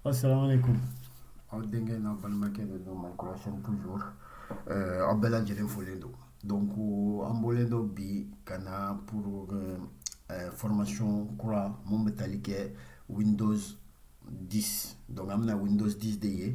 Assalamu alaikum. Aw denkɛ n'a balimakɛ de don Mali kura chaîne toujours euh, aw bɛɛ lajɛlen folen don donc an bɔlen don bi ka na pour euh, euh, formation kura mun bɛ tali kɛ Windows 10 donc an bɛna Windows 10 de ye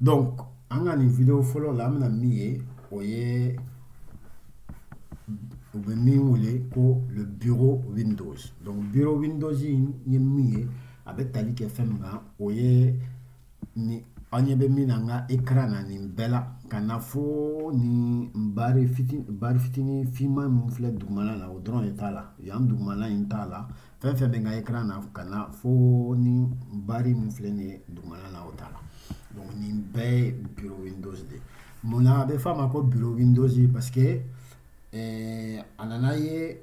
donc an ka nin video fɔlɔ la an bɛna min ye o ye u bɛ min wele ko le bureau windows donc bureau windows in ye min ye a bɛ tali kɛ fɛn min kan o ye ni an ɲɛ bɛ min na n ka écran na nin bɛɛ la ka na fo nin bari fitini bari fitini finman min filɛ dugumana la o dɔrɔn de t'a la yan dugumana in t'a la fɛn fɛn bɛ n ka écran na ka na fo nin bari min filɛ nin ye dugumana na o t'a la donc nin bɛɛ ye bureau windows de ye mun na a bɛ f'a ma ko bureau windows parce que eh, a nana ye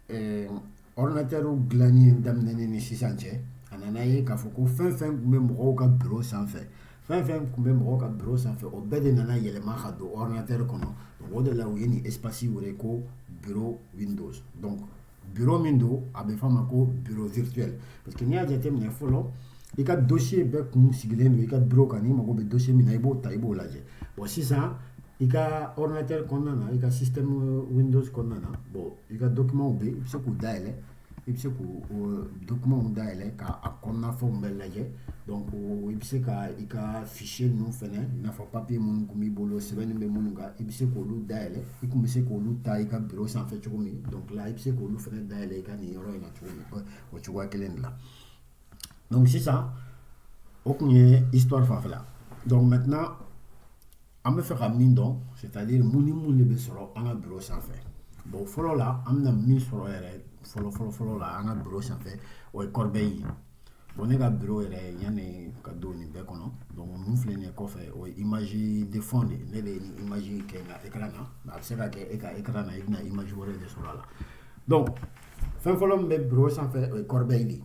eh, ordinateur dilanni daminɛni ni sisan cɛ a nana ye k'a fɔ ko fɛn fɛn tun bɛ mɔgɔw ka bureau sanfɛ fɛn fɛn tun bɛ mɔgɔw ka bureau sanfɛ o bɛɛ de nana yɛlɛma ka don ordinateur kɔnɔ o de la u ye nin espace wele ko bureau windows donc bureau min don a bɛ f'a ma ko bureau virtuel parce que n'i y'a jateminɛ fɔlɔ i ka dossier bɛɛ kun sigilen don i ka bureau kan n'i mago bɛ dossier min na i b'o ta i b'o lajɛ bon sisan i ka ordinatɛri kɔnɔna na i ka système windows kɔnɔna na bon i ka documentw bɛ i bɛ se k'u dayɛlɛ i bɛ se k'o document dayɛlɛ ka a kɔnɔna fɛnw bɛɛ lajɛ donc i bɛ se ka i ka fichier ninnu fana i n'a fɔ papier minnu tun b'i bolo sɛbɛn bɛ minnu kan i bɛ se k'olu dayɛlɛ i tun bɛ se k'olu ta i ka bureau sanfɛ cogo min donc i bɛ se k'olu fana dayɛlɛ i ka nin yɔrɔ in na cogo min o cogoya kelen de la donc sisan o tun ye histoire fanfɛla donc maintenant an bɛ fɛ ka min dɔn c'est-à-dire mun ni mun de bɛ sɔrɔ an ka bureau sanfɛ bon fɔlɔ la an bɛna min sɔrɔ yɛrɛ fɔlɔ fɔlɔ fɔlɔ la an ka bureau sanfɛ o ye corbeille ye Bon ne ka bi yɛrɛ yan ka don nin bɛɛ kɔnɔ don minnu filɛ nin kɔfɛ o i maz de fɔ de ne de i maz kɛ nka e na nka a bɛ se ka kɛ e ka e na i bɛna i maz wɛrɛ de sɔrɔ a la dɔn fɛn fɔlɔ min bɛ bi sanfɛ o ye kɔrɔbɛ in de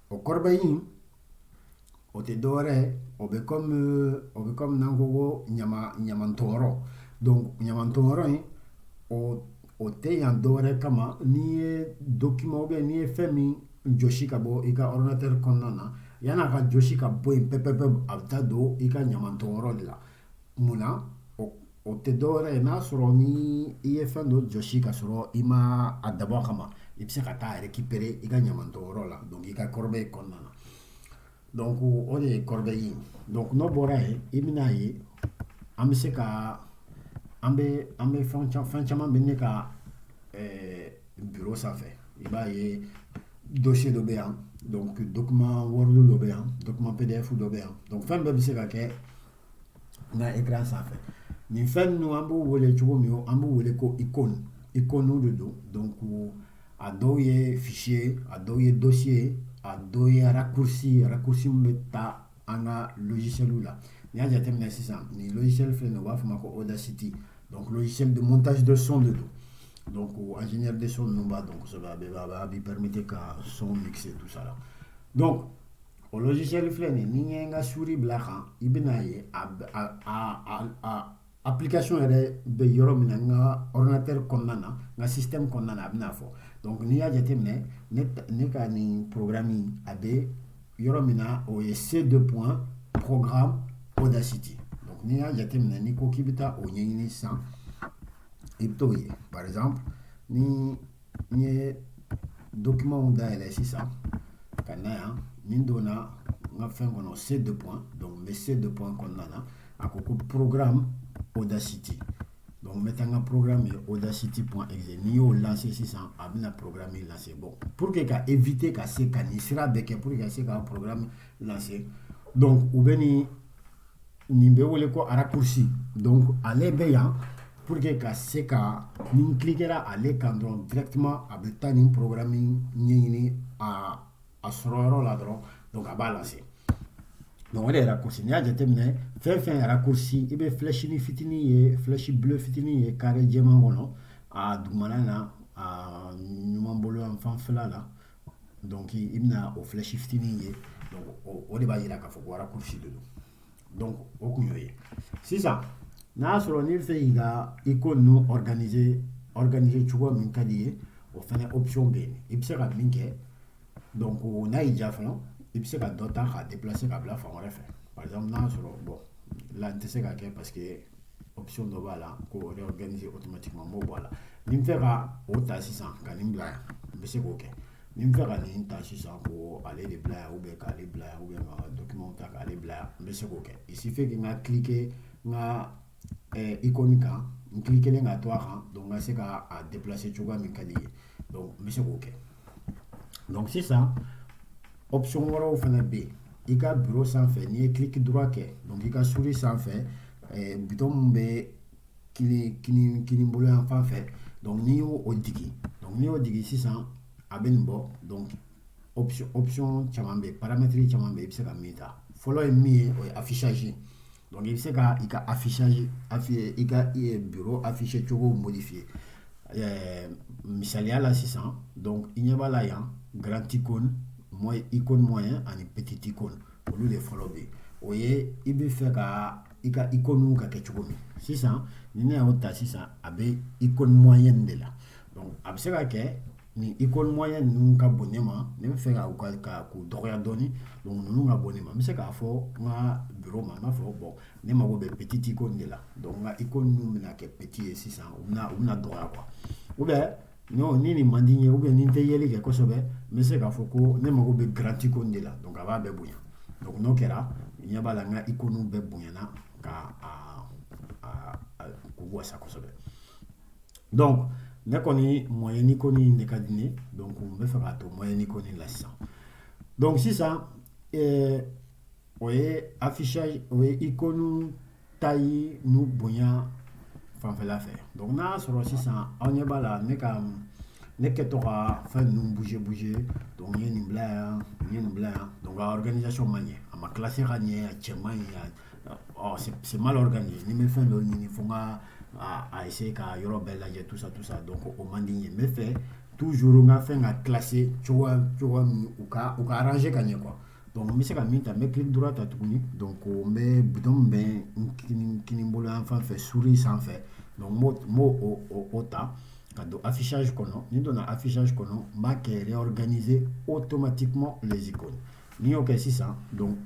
o kɔrɔ in o tɛ dɔwɛrɛ o bɛ o bɛ ko ko ɲamantɔɔrɔ ɲamantɔɔrɔ in o o tɛ yan dɔwɛrɛ kama n'i ye document ou bien n'i ye fɛn min jɔsi ka bɔ i ka ordinateur kɔnɔna na yan'a ka jɔsi ka bɔ yen pɛpɛpɛ a bɛ taa don i ka ɲamantɔn yɔrɔ de la mun na o tɛ dɔwɛrɛ ye n'a sɔrɔ ni i ye fɛn dɔ jɔsi ka sɔrɔ i ma a dabɔ a kama i bɛ se ka taa a récupérer i ka ɲamantɔn yɔrɔ la donc i ka corbeille kɔnɔna na Donc o de ye corbeille ye donc n'o bɔra yen i bɛna a ye an bɛ se ka an bɛ an bɛ fɛn caman bɛ ne ka bureau sanfɛ i b'a ye dossier dɔ bɛ yan donc document word dɔ bɛ yan document PDF dɔ bɛ yan donc fɛn bɛɛ bɛ se ka kɛ n ka écran sanfɛ nin fɛn ninnu an b'u wele cogo min an b'u wele ko icône icônew de don donc a dɔw ye fichier ye a dɔw ye dossier ye a dɔw ye raccourci ye raccourci min bɛ taa an ka logicielw la n'i y'a jateminɛ sisan nin logiciel filɛ nin u b'a fɔ o ma ko audacity donc logiciel de montage de son de don donc ingénieur de son ninnu b'a dɔn kosɛbɛ a bɛ a b'i permettre ka son mixer tout ça la donc o logiciel filɛ nin ni n ye n ka souris bila a kan i bɛna ye a a a application yɛrɛ bɛ yɔrɔ min na n ka ordinateur kɔnɔna na n ka système kɔnɔna na a bɛna fɔ donc n'i y'a jateminɛ ne ne ka nin programme a bɛ yɔrɔ min na o ye C deux points programme Audacity donc n'i y'a jateminɛ n'i ko k'i bɛ taa o ɲɛɲini sisan i bɛ t'o ye par exemple ni n ye documentw dayɛlɛ sisan ka na yan ni n donna n ka fɛn kɔnɔ C deux points donc n bɛ C deux points kɔnɔna na a ko ko programme audacity donc n bɛ taa n ka programme ye audacity point exe n'i y'o lancer sisan a bɛna programme in lancer bon pour que ka éviter ka se ka nin sira bɛɛ kɛ pour que ka se ka programme lancer donc u bɛ nin nin bɛ wele ko raccourci donc ale bɛ yan pour que ka se ka ni n cliquera ale kan dɔrɔn directement a bɛ taa nin programme ɲɛɲini a a sɔrɔ yɔrɔ la dɔrɔn donc a b'a lancer donc o de ye raccourci n'i y'a jateminɛ fɛn fɛn raccourci i bɛ flèche ni fitinin ye flèche bleu fitinin ye carré jɛman kɔnɔ a dugumana na a ɲuman bolo yan fanfɛla la Donc i bɛna o flèche fitinin ye donc o de b'a yira k'a fɔ ko raccourci de don donc o kun y'o ye sisan n'a y'a sɔrɔ n'i bɛ fɛ k'i ka icône ninnu organiser organiser cogo min ka d'i ye o fɛnɛ option bɛ yen i bɛ se ka min kɛ donc n'a y'i diya fana i bɛ se ka dɔ ta k'a déplacer ka bila fan wɛrɛ fɛ par exemple n'a y'a sɔrɔ bon là n tɛ se k'a kɛ parce que option dɔ b'a la ko réorganiser automatiquement n b'o bɔ a la ni n fɛ ka o ta sisan ka nin bila yan n bɛ se k'o kɛ ni n fɛ ka nin ta sisan ko ale de bila yan ou bien k'ale bila yan ou bien ka document ta k'ale bila yan n bɛ se k'o kɛ il suffit que n ka cliquer n ka eh, icône kan n cliquer ka to a kan donc n ka se ka a déplacer cogoya min ka di n ye donc n bɛ se k'o kɛ. Donc sisan option wɛrɛw fana bɛ yen i ka biro sanfɛ n'i ye clic droit kɛ donc i ka souris sanfɛ eh, bouton min bɛ kini kini kini bolo yan fan fɛ donc n'i y'o o digi donc n'i y'o digi sisan a bɛ nin bɔ donc option option caman bɛ yen paramètre caman bɛ yen i bɛ se ka min ta fɔlɔ ye min ye o ye affichage ye. Donc i bɛ se ka i ka afficha affi i ka biro afficher cogo modifier ɛɛ misaliya la sisan donc i ɲɛ b'a la yan grand icône mo icône moyen ani petit icône olu de fɔlɔ bɛ yen o ye i bɛ fɛ ka i ka icône ka kɛ cogo min sisan ni ne y'o ta sisan a bɛ icône moyen de la a bɛ se ka kɛ Ni icône moyen ninnu ka bon ne ma ne bɛ fɛ ka k'u dɔgɔya dɔɔnin ninnu ka bon ne ma n bɛ se k'a fɔ n ka biro ma n b'a fɔ bon ne mago bɛ petit icône de la icône ninnu bɛna kɛ petit ye sisan u u bɛna dɔgɔya quoi ou bien ni nin man di n ye ou bien ni n tɛ yeli kɛ kosɛbɛ n bɛ se k'a fɔ ko ne mago bɛ grand icône de la donc a b'a bɛɛ bonya n'o kɛra ɲɛ b'a la n ka icône bɛɛ bonyana ka k'u wasa kosɛbɛ donc ne kɔni moyen icône de ka di ne donc n bɛ fɛ k'a to moyen icône la sisan donc sisan o ye affichage o ye icône taille n'u bonya fanfɛla fɛ donc n'a y'a sɔrɔ sisan aw ɲɛ b'a la ne ka ne kɛtɔ ka fɛn ninnu bouger bouger donc n ye nin bila yan n ye nin bila yan donc a organisation ma ɲɛ a ma classer ka ɲɛ a cɛ man ɲi se malo ka nin ni bɛ fɛn dɔ ɲini fo ka a yese ka yɔrɔ bɛɛ lajɛ tusa tu sa dɔn ko o man di ye n fɛ tu syur ka fɛn ka kilase cogo min u ka u ka ranse ka ɲɛ kuwa dɔnku n bɛ se ka min ta n bɛ ki dɔrɔn ta tuguni don ko n bɛ bi bɛ n k bolo an fan fɛ suuru sanfɛ b'o ta ka don afisasi kɔnɔ ni donna afisasi kɔnɔ n b'a kɛ yɔrɔ gananize o tomati kuma zko n'i y'o kɛ sisan donc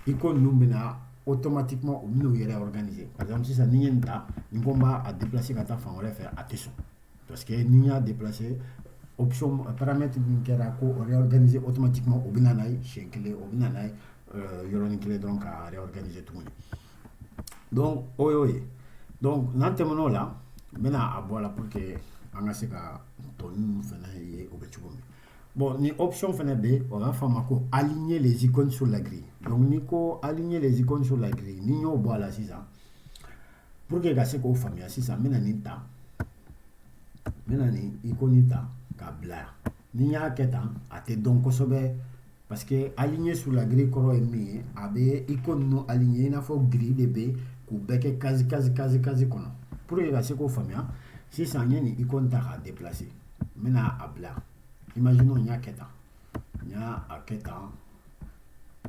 icône ninnu bɛna automatiquement u bɛn'u yɛrɛ organiser par exemple sisan ni n ye nin ta ni n ko n b'a a déplacer ka taa fan wɛrɛ fɛ a tɛ sɔn parce que ni n y'a déplacer option paramètre min kɛra ko o réorganiser automatiquement o bɛna n'a ye siɲɛ kelen o bɛna n'a ye euh, yɔrɔnin kelen dɔrɔn ka réorganiser tuguni donc o y'o ye donc n'an tɛmɛn'o la n bɛna a bɔ a la pour que an ka se ka tɔ ninnu fana ye o bɛ cogo min Bon ni option fana bɛ yen o b'a fɔ a ma ko aligner les icônes sur la grille donc n'i ko aligner les icônes sur la grille n'i y'o bɔ a la sisan pour que ka se k'o faamuya sisan n bɛna nin ta n bɛna nin icône ta k'a bila yan ni n y'a kɛ tan a tɛ dɔn kosɛbɛ. Parce que aligner sur la grille kɔrɔ ye min ye a bɛ icône ninnu aligner i n'a fɔ grille de bɛ k'u bɛɛ kɛ case case case case kɔnɔ pour que ka se k'o faamuya sisan n ye nin icône ta k'a déplacer n bɛna a bila imaginons n y'a kɛ tan n y'a a kɛ tan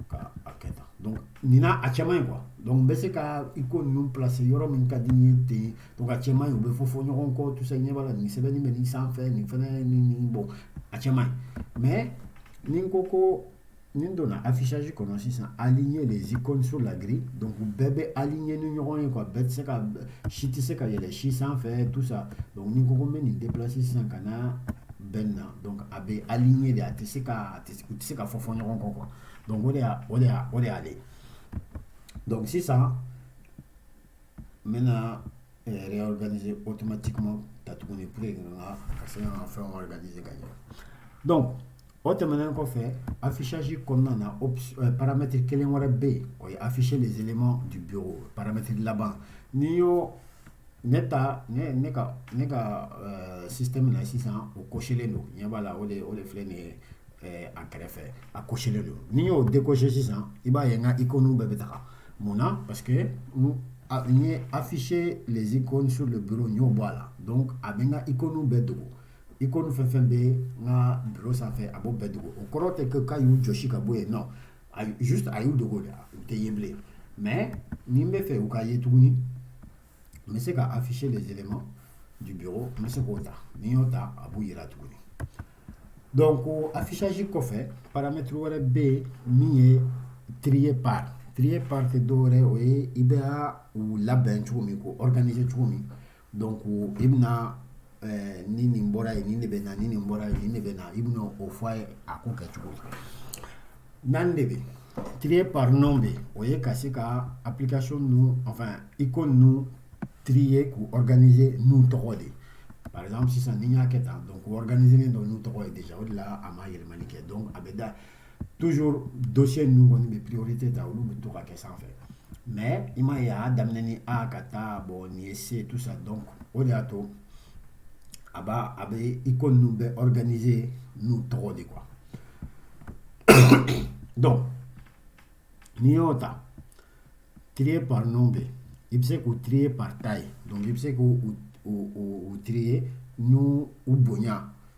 ka a kɛ tan donc nin na a cɛ man ɲi quoi donc n bɛ se ka icône ninnu placer yɔrɔ min ka di n ye ten donc a cɛ man ɲi u bɛ fɔfɔ ɲɔgɔn kɔ tout ça i ɲɛ b'a la nin sɛbɛnni bɛ nin sanfɛ nin fana nin nin bon a cɛ man ɲi mais ni n ko ko ni n donna affichage kɔnɔ sisan aligner les icônes sur la grille donc bɛɛ bɛ aligner ni ɲɔgɔn ye quoi bɛɛ tɛ se ka si tɛ se ka yɛlɛ si sanfɛ tout ça donc ni n ko ko n bɛ nin déplacer sisan ka na bɛn na donc a bɛ aligner de a tɛ se ka a tɛ u tɛ se ka fɔfɔ ɲɔgɔn kɔ quoi donc o de y'a o de y'a o de y'ale donc sisan n bɛna eh, réorganiser automatiquement ta tuguni pour que n ka ka se ka n ka fɛnw organiser ka ɲɛ donc o tɛmɛnen kɔfɛ affichage kɔnɔna na ops- eh, paramètre kelen wɛrɛ bɛ yen o ye afficher les éléments du bureau paramètre laban n'i y'o ne ta ne ne ka ne ka eh, système na sisan o cochelen don ɲɛ b'a la o de o de filɛ nin ye a kɛrɛfɛ a cochelen don n'i y'o décocher sisan i b'a ye n ka icône bɛɛ bɛ taga mun na parce que n ye afficher les icônes sur le bureau n y'o bɔ a la donc a bɛ n ka icône bɛɛ dogo icône fɛn fɛn bɛ n ka bureau sanfɛ a b'o bɛɛ dogo o kɔrɔ tɛ ko k'a y'u jɔsi ka bɔ yen non juste a y'u dogo de u tɛ ye bilen mais ni n bɛ fɛ u ka ye tuguni n bɛ se ka afficher les éléments du bureau n bɛ se k'o ta ni n y'o ta a b'u yira tuguni donc o affichage kɔfɛ paramètre wɛrɛ bɛ yen min ye trier par trier par tɛ dɔwɛrɛ ye o ye i bɛ u labɛn cogo min k'u organiser cogo min donc i bɛna ɛɛ ni nin bɔra yen nin de bɛ na ni nin bɔra yen nin de bɛ na i bɛna o fɔ a ye a ko kɛcogo la naani de bɛ trier par nom bɛ o ye ka se ka application ninnu enfin icône ninnu trier k'u organiser n'u tɔgɔ de ye par exemple sisan ni n y'a kɛ tan donc u organiserlen don n'u tɔgɔ ye déjà o de la a ma yɛlɛmani kɛ donc a bɛ da toujours dossier ninnu kɔni bɛ priorité ta olu bɛ to ka kɛ sanfɛ mais i m'a y'a daminɛ ni A ka taa bon nin ye C tout ça donc o de y'a to a b' a bɛ icône ninnu bɛ organiser n'u tɔgɔ de quoi donc n'i y'o ta trier par nom bɛ i bɛ se k'u trier par taille donc i bɛ se k'u trier n'u bonya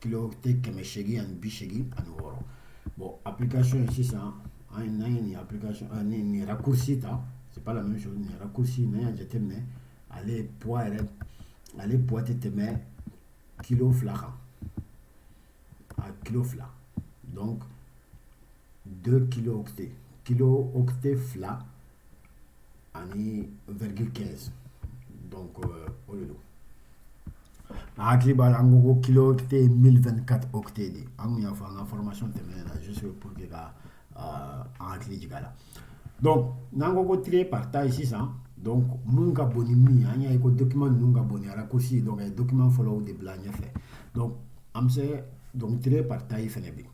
kilo octet kɛmɛ seegin ani bi seegin ani wɔɔrɔ bon application ye sisan an ye n'an ye nin application an ye nin raccourci ta c'est pas la même chose nin raccourci n'an y'a jateminɛ ale poids yɛrɛ ale poids tɛ tɛmɛ kilo fila kan a kilo fila donc deux kilo octet kilo octet fila ani virgule quinze donc euh, o de don a hakili b'a la an ko ko kilo octet ye mille vingt quatre octets de an kun y'a fɔ an ka formation tɛmɛnen na juste pour que ka euh, an hakili jigin a la donc n'an ko ko trier par taille sisan donc mun ka bon ni min ye an y'a ye ko document ninnu ka bon ni raccourci donc a ye document fɔlɔw de bila ɲɛfɛ donc an bɛ se donc trier par taille fɛnɛ bɛ yen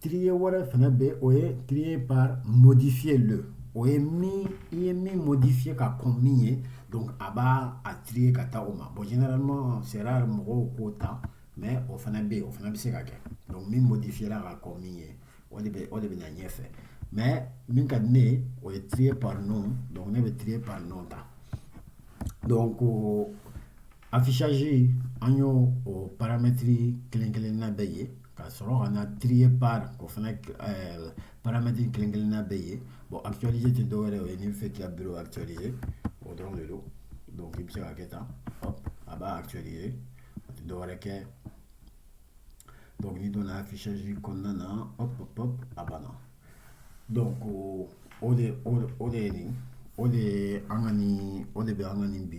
trier wɛrɛ fana bɛ o ye trier par modifié le o ye min i ye min modifier ka kɔn min ye donc a b'a trier ka taa o ma bon généralement c'est rare mɔgɔw k'o ta mais o fana bɛ yen o fana bɛ se ka kɛ donc min modifiera ka kɔn min ye o de bɛ o de bɛ na ɲɛfɛ mais min ka di ne ye o ye trier par nom donc ne bɛ trier par nom ta donc Affichage an y'o o paramètre kelen-kelenna bɛɛ ye ka sɔrɔ ka na trier par k'o fana paramètre kelen-kelenna bɛɛ ye bon actualiser tɛ dɔwɛrɛ ye n'i bɛ fɛ k'i ka bureau actualiser o dɔrɔn de don donc i bɛ se ka kɛ tan hop a b'a actualiser a tɛ dɔwɛrɛ kɛ donc n'i donna affichage kɔnɔna na hop a banna Don ko o de o de nin o de an ka nin o de bɛ an ka nin bi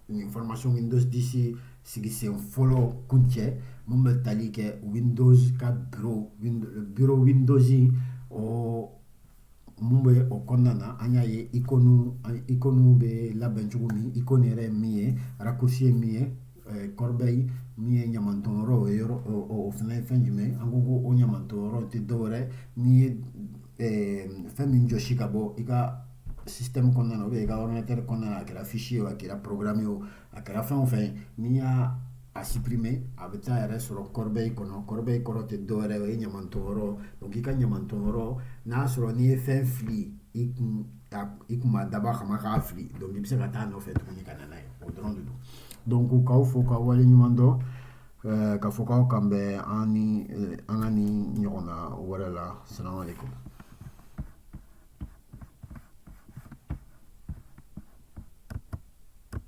nin faramasasiw min dɔdise sigi sen fɔlɔ kun cɛ minnu bɛ tali kɛ u bɛ ka bi dɔz ɔ Mun bɛ o kɔnɔna na an y'a ye icônew bɛ labɛn cogo min icône yɛrɛ min ye raccourci ye min ye corbeille min ye ɲamanton yɔrɔ ye o fana ye fɛn jumɛn an ko ko o ɲamanton yɔrɔ tɛ dɔwɛrɛ n'i ye fɛn min jɔsi ka bɔ i ka système kɔnɔna na i ka ordinateur kɔnɔna a kɛra fichier o a kɛra programme o a kɛra fɛn o fɛn n'i y'a supprimer a bɛ taa yɛrɛ sɔrɔ corbeille kɔnɔ corbeille kɔrɔ tɛ dɔwɛrɛ o ye ɲamanton yɔrɔ donc i ka ɲamanton yɔrɔ n'a sɔrɔ n'i ye fɛn fili i kun i kun ma dabɔ a kama k'a fili donc i bɛ se ka taa nɔfɛ tuguni ka na n'a ye o dɔrɔn de don donc k'aw fo k'aw wale ɲuman dɔn eh, ka fɔ k'aw k'an bɛn an ni eh, an ka nin ɲɔgɔnna wɛrɛ la salamu aleykum